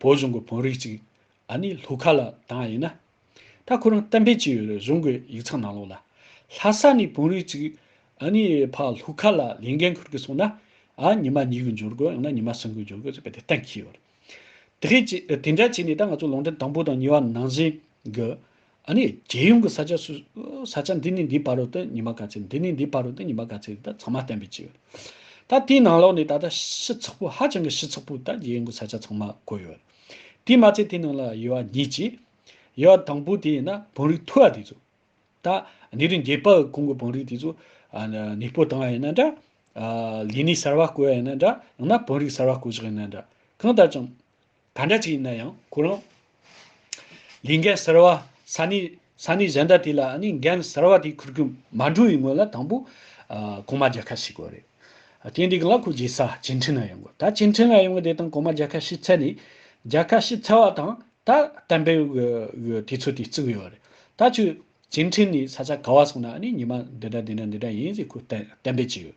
བོད་གཞུང་གི་བོན་རིགས་ཅིག་ཨ་ནི་ལྷོ་ཁ་ལ་དང་ཡིན་ན། ད་ཁོ་རང་གཏམ་དཔེ་ཅི་ཡོད་རེ་གཞུང་གི་ཡིག་ཚང་ནང་ལོག་ལ། ལྷ་ས་ནི་བོན་རིགས་ཅིག་ཨ་ནི་ཕ་ལྷོ་ཁ་ལ་ལས་འགན་འཁུར་གི་སོང་ན། ཨ་ཉི་མ་ཉིད་ཀྱི་འབྱོར་དགོས་ཡང་ན་ཉི་མ་སྲིང་གི་འབྱོར་དགོས་ཟེར་བ་དེ་གཏན་འཁེལ་ཡོད་རེད། དེ་འདྲ་བྱས་ནས་ད་ང་ཚོ་ལུང་འདྲེན་དང་པོ་དང་གཉིས་བ་ནང་བཞིན་གྱི། ཨ་ནི་རྒྱལ་ཡོངས་ཀྱི་ས་ཆ་སུ། ས་ཆ་འདི་ནས་འདིའི་བར་རུ་སྟེ་ཉི་མ་ག་ཚད་འདི་ནས་འདིའི་བར་རུ་སྟེ་ཉི་མ་ག་ཚད་དེ་དག་ཚང་མ་བསྟན་པའི་ཕྱིར། ད་དེའི་ནང་ལོགས་ནས་ད་ལྟ་ཤི་ཚགས་པུ་ཧ་ཅང་གི་ཤི་ཚགས་པུ་དག་རྒྱལ་ཡོངས་ཀྱི་ས་ཆ་ཚང་མ་བགོས་ཡོད། དེའི་མ་ཚད་དེའི་ནང་ལ་ཡོད་བ་ཉིད་ཅིག། ཡོད་བ་དང་པོ་དེ་ཡིན་ན་བང་རིགས་མཐུ་བ་དེ་ཚོ། ད་ནི་རིན་རྒྱས་པའི་གོང་གི་བང་རིགས་དེ་ཚོ། ནས་སྤོ་བཏང་བ་ཡིན་ན་འདྲ། ལས་ནི་གསར་བ་བཀོལ་བ་ཡིན་ན་འདྲ་ཡང་ན་བང་རིགས་གསར་བ་བཀོལ་བཞག་ཡིན་ན་འདྲ། གང་ལྟར་ཀྱང། ག་འདྲ་ཅིག་ཡིན་ན་ཡང་ཁོ་རང། ལས་འགན་གསར་བ་ས་གནས་ས་གནས་གཞན་དག་དེ་ལ་ནི་འགན་གསར་བ་དེ་འཁུར་རྒྱུ་མ་འགྲོ་བའི་སྔོན་ལ་དང་པོ། གོང་མ་རྒྱལ་ཁ་ཞིག་དགོས་རེད། དེ་འདི་ག་ལ་ཁོ་རྗེས་ས་སྐྱེལ་འཕྲིན་ལ་ཡོང་དགོས་ད་སྐྱེལ་འཕྲིན་ལ་ཡོང་གི་དེ་དང་གོང་མ་རྒྱལ་ཁ་ཞིག་ཚད་ནས། རྒྱལ་ཁ་ཞིག་ཚད་བ་དང་ད་གཏན་འབེབས་དགོས་དུས་ཚོད་དེ་བརྩི་གི་ཡོད་རེད་ད་ཁྱོད། སྐྱེལ་འཕྲིན་ནི་ས་ཆ་ག་བ་སོང་ན་ནི་ཉི་མ་འདི་འདྲ་འདི་འདྲ་འདི་འདྲ་ཡིན་ཞེས་ཁོས་གཏན་འབེབས་བྱས་ཡོད།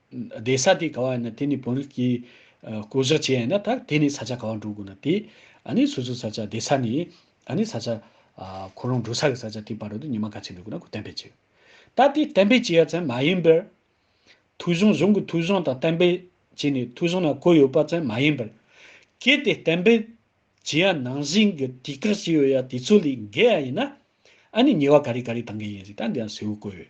བདེ་ས་དེ་ག་བ་ཡིན་ན་དེ་ནི་བོན་རིགས་ཀྱིས་བསྐོ་བཞག་བྱས་ཡིན་ན་ད་དེ་ནི་ས་ཆ་ག་བ་འགྲོ་དགོས་ན་དེ་ཨ་ནི་སོ་སོའི་ས་ཆ་བདེ་ས་ནི་ཨ་ནི་ས་ཆ་ཁོ་རང་འགྲོ་ས་གི་ས་ཆ་དེ་བར་དུ་ཉི་མ་ག་ཚད་འགྲོ་དགོས་ན་ཁོ་གཏན་འབེབས་བྱས་ཡོད། ད་དེ་གཏན་འབེབས་བྱས་ཡ་ཚན་མ་ཡིན་པར། ཐུགས་གཞུང་གཞུང་གི་ཐུགས་གཞུང་དང་གཏན་འབེབས་བྱས་ནས་ཐུགས་གཞུང་ན་བཀོད་ཡོད་པ་ཚན་མ་ཡིན་པར། གལ་ཏེ་གཏན་འབེབས་བྱས་ཡ་ནང་བཞིན་གྱི་དུས་བཀག་བྱས་ཡོད་ཡ་དེ་ཚོ་ལས་འགལ་ཡ་ཡིན་ན་ཨ་ནི་ཉེ་བ་ག་རེ་ག་རེ་དང་འགལ་ཡིན་རིགས་ད་འདི་ཡང་གསལ་བོ་བཀོད་ཡོད།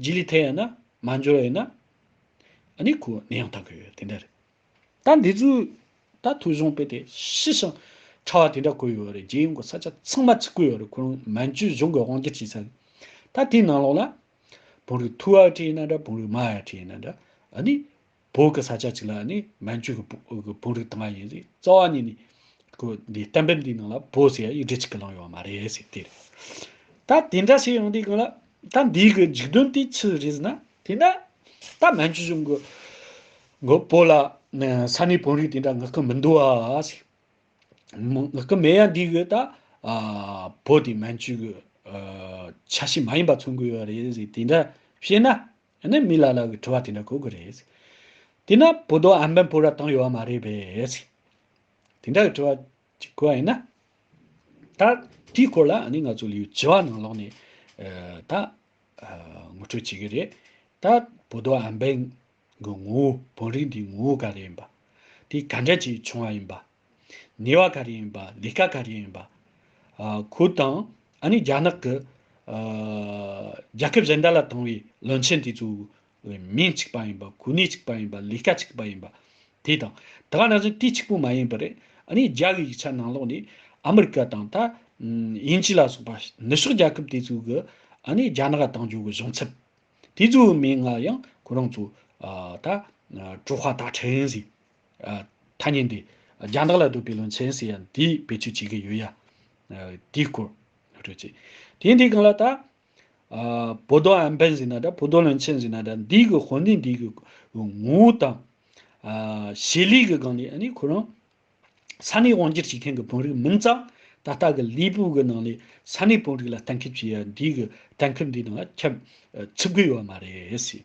རྗེས་ལུས་དེ་ཡང་ན་མ་འབྱོར་བས་ན། ནི་གུ་ནི་ཡང་དག་གི་དེ་འདྲ་རེད། ད་འདི་ཚོའི་ད་ཐུགས་གཞུང་དཔེ་དེ་ཤི་ཞིང་ཕྲ་བ་དེ་འདྲ་བཀོད་ཡོད་རེད་རྗེས་ཡོང་གི་ས་ཆ་ཚང་མ་ཚིག་བཀོད་ཡོད་རེད་ཁོ་རང་མན་ཇུའི་གཞུང་གི་དབང་སྒྱུར་བྱས་ཚར་རེད། ད་དེའི་ནང་ལོགས་ན། བོང་རིགས་ཐུ་ཡག་བྲིས་ཡིན་ན་འདྲ་བོང་རིགས་མ་ཡག་བྲིས་ཡིན་ན་འདྲ། ནི་བོད་ཀྱི་ས་ཆ་གཅིག་ལ་ནི་མན་ཇུ་གྱི་བོད་རིགས་དང་ཡིན་ཟེར་རྩ་བ་ནས་ནི། ཁོ་འདི་གཏམ་དཔེ་འདིའི་ནང་ལ་བོད་ཟེར་ཡ་ཡིག་འབྲི་གཅིག་གི་ལང་ཡོད་མ་རེད་ཟེར་དེ་རེད། ད་དེ་འདྲ་བྱས་ཡོང་དུས་གང་ལ་ད་འདིའི་གི་འཇིག་རྟེན་དེ་ཆི་རེད་ཟེར་ན་དེ་འདྲ་ད་མན་ཇུ་གཞུང་གི་གི་བོད་ལ་ས་གནས་བོད་རིགས་དེ་འདྲ་ངག་གི་མི་འདུག་ཨ་ཟེར། ངག་གི་མེད་ཡ་འདིའི་གི་ད་བོད་དེ་མན་ཇུ་གི་ཆ་ཤས་མ་ཡིན་པ་མཚོན་གི་ཡོད་རེད་ཟེར་དེ་འདྲ་བཤད་ན། ཡང་ན་མི་ལ་ལ་བའི་དྲི་བ་དེ་འདྲ་གོ་གི་རེད། དེས་ན་བོད་དོ་ཨམ་བན་བོད་ར་བཏང་ཡོད་བ་མ་རེད་པས། དེ་འདྲ་གི་དྲི་བ་ཅིག་གོ་བ་ཡིན་ན། ད་དེའི་སྐོར་ལ་ང་ཚོ་ལིའུ་ཅི་བ་ནང་ལོགས་ནས་ད་ངོ་སྤྲོད་བྱེད་གི་རེད། ད་བོད་དོ་ཨམ་བན་གི་ངོ་བོ་བོན་རིགས་འདིའི་ངོ་བོ་ག་རེ་ཡིན་པ། དེ་ག་འདྲ་ཅིག་བྱུང་བ་ཡིན་པ། ནུས་བ་ག་རེ་ཡིན་པ་ལས་ཀ་ག་རེ་ཡིན་པ། ཁོའི་དང་ཨ་ནི་རྒྱ་ནག་གི་རྒྱལ་ཁབ་གཞན་དག་ལ་དང་བའི་བློན་ཆེན་དེ་ཚོ་ལས་མིང་གཅིག་པ་ཡིན་པ་གོ་གནས་གཅིག་པ་ཡིན་པ་ལས་ཀ་གཅིག་པ་ཡིན་པ། དེ་དང་དེ་ག་ན་བཞིན་དུས་གཅིག་པོ་མ་ཡིན་པར་ཨ་ནི་རྒྱ་བའི་ཡིག་ཆ་ནང་ལོགས་ནས་ཨ་མི་རི་ཀ་དང་ད་ཡིན་ཅི་ལ་སོགས་པ་ནུ་ཕྱོགས་རྒྱལ་ཁབ་དེ་ཚོ་གི་ཨ་ནི་རྒྱ་ནག་དང་འབྱོར་བའི་གཞུང་ཚབ་དེ་ཚོའི་མིང་ལ་ཡང་ཁོ་རང་ཚོ་ད་ཀྲུ་ཧ་ད་ཁྲིན་ཟེར། ཐ་སྙད་འདི། རྒྱང་ཐག་ལ་སྡུག་པའི་ལུང་ཚན་ཟེར་ཡ་འདི་བེད་སྤྱོད་བྱེད་ཀྱི་ཡོད་ཡ། དེའི་སྐོར། རེད་ཅེ། དེ་འདི་གང་ལ་ད། བོ་དོ་ཨན་བན་ཟེར་ན་འདྲ་བོ་དོ་ལུང་ཚན་ཟེར་ན་འདྲ་འདི་གི་དོན་ནི་འདི་གི། ངོ་བོ་དང། བྱེད་ལས་ཀྱི་སྒང་ནས་ནི་ཁོ་རང། ས་གནས་དབང་སྒྱུར་བྱེད་མཁན་གྱི་བོན་རིགས་མིན་ཙང་ད་ལྟ་གི་ལུས་པོ་གི་ནང་ནས་ས་གནས་བོན་རིགས་ལ་གཏན་འཁེལ་བྱེད་ཡ་འདི་གི་གཏན་འཁེལ་འདི་ནང་ལ་ཁྱབ། ཚུད་དགོས་ཡོད་མ་རེད།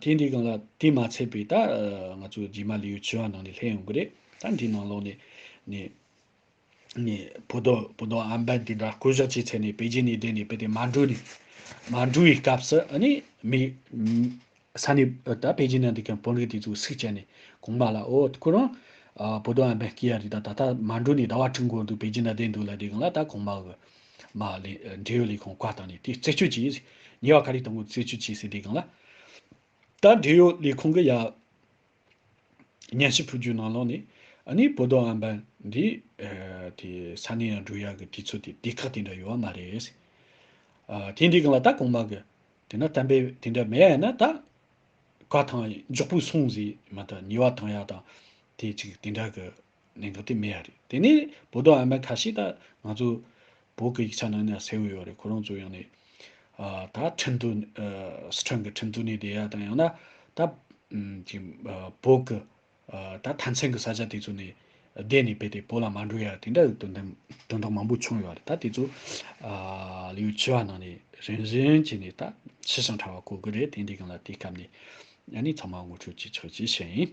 དེ་འདི་གང་ལ་དེ་མ་ཚད་པའི་ད་ང་ཚོ་རྗེས་མ་ལེའུ་བཅུ་བ་ནང་ནས་ལྷད་ཡོང་གི་རེད་ད་འདི་ནང་ལོག་ནས་ནས་ནས་བུ་རྡོ་བུ་རྡོ་ཨམ་བན་དེ་འདྲ་བསྐོ་གཞག་བྱས་ཚད་ནས་པེ་ཅིན་ནས་བསྡད་ནས་དཔེ་དེ་མ་འགྲོ་ནས་མ་འགྲོ་བའི་སྐབས་སུ་ཨ་ནི་མི་ས་ནས་ད་པེ་ཅིན་ནང་འདི་ག་བོན་རིགས་དེ་ཚོ་སུས་བྱས་ནས་གོང་མ་ལ་ཨོ་ཁོ་རང་བུ་རྡོ་ཨམ་བན་སྐྱེ་ཡ་རི་ད་ད་ལྟ་མ་འགྲོ་ནས་ཟླ་བ་ཁྲི་འགོར་འདུག་པེ་ཅིན་ན་བསྡད་འདུག་ལ་འདི་གང་ལ་ད་གོང་མ་གི་མ་ལས། འབྲེལ་ཡོད་ལས་ཁུངས་བཀའ་བཏང་ནས་དེ་རྩད་གཅོད་བྱས། ཉེས་བ་ག་རེ་བཏང་ངོ་རྩད་གཅོད་བྱས་ཟིན་དེ་སྒང་ལ། ད་འབྲེལ་ཡོད་ལས་ཁུངས་ཀྱི་ཡ། སྙན་ཞུ་ཕུལ་རྒྱུའི་ནང་ལོགས་ནས། ནི་བོད་དོན་ཨམ་བན། འདི། དེ། ས་གནས་ཡང་འགྲུལ་ཡག་གི་དུས་ཚོད་དེ་སྡེ་ཁག་དེ་འདྲ་ཡོད་བ་མ་རེད། ཨ། དེ་འདི་སྒང་ལ་ད་གོང་མ་གི། དེ་ན་གཏམ་དཔེ་དེ་འདྲ་མེད་ཡ་ན་ད། བཀའ་ཐང་མགྱོགས་པོས་སོང་ཟིན་མ་ད་ཉེས་བ་བཏང་ཡག་དང། དེ་ཅིག་དེ་འདྲ་གི། ནས་ག་དེ་མེད་ཡ་རེད་དེ་ནས་བོ་དོ་ཨ་མ་ཁ་ཤེས་ད་ང་ཚོ་བོད་གི་ཡིག་ཆ་ནང་ནས་སེ་འོས་ཡོད་རེད་ཁོ་རང་ཚོ་ཡང་ནས་ད་ཁྲིམས་དོ་སི་ཁྲོན་གི་ཁྲིམས་དོ་ནས་བསྡད་ཡ་དང་ཡང་ན་ད་གི་བོད་གི་ད་ཐང་ཆེན་གི་ས་ཆ་དེ་ཚོ་ནས་བསྡད་ནས་བས་ཏེ་བོད་ལ་མ་འགྲོ་ཡ་དེ་འདྲ་དོན་དམ་དོན་དག་མང་པོ་བྱུང་ཡོད་རེད་ད་དེ་ཚོ་ལིའུ་ཆི་བ་ནང་ནས་རིན་བཞིན་གྱིས་ནས་ད་ཤི་ཞིང་ཁྲ་བ་གོ་གི་རེད་དེ་འདྲའི་གང་ལ་དེ་སྐབས་ནས་ཡ་ནས་ཚང་མ་ངོ་འཕྲོད་ཅིག་ཆགས་ཅིག་བྱས།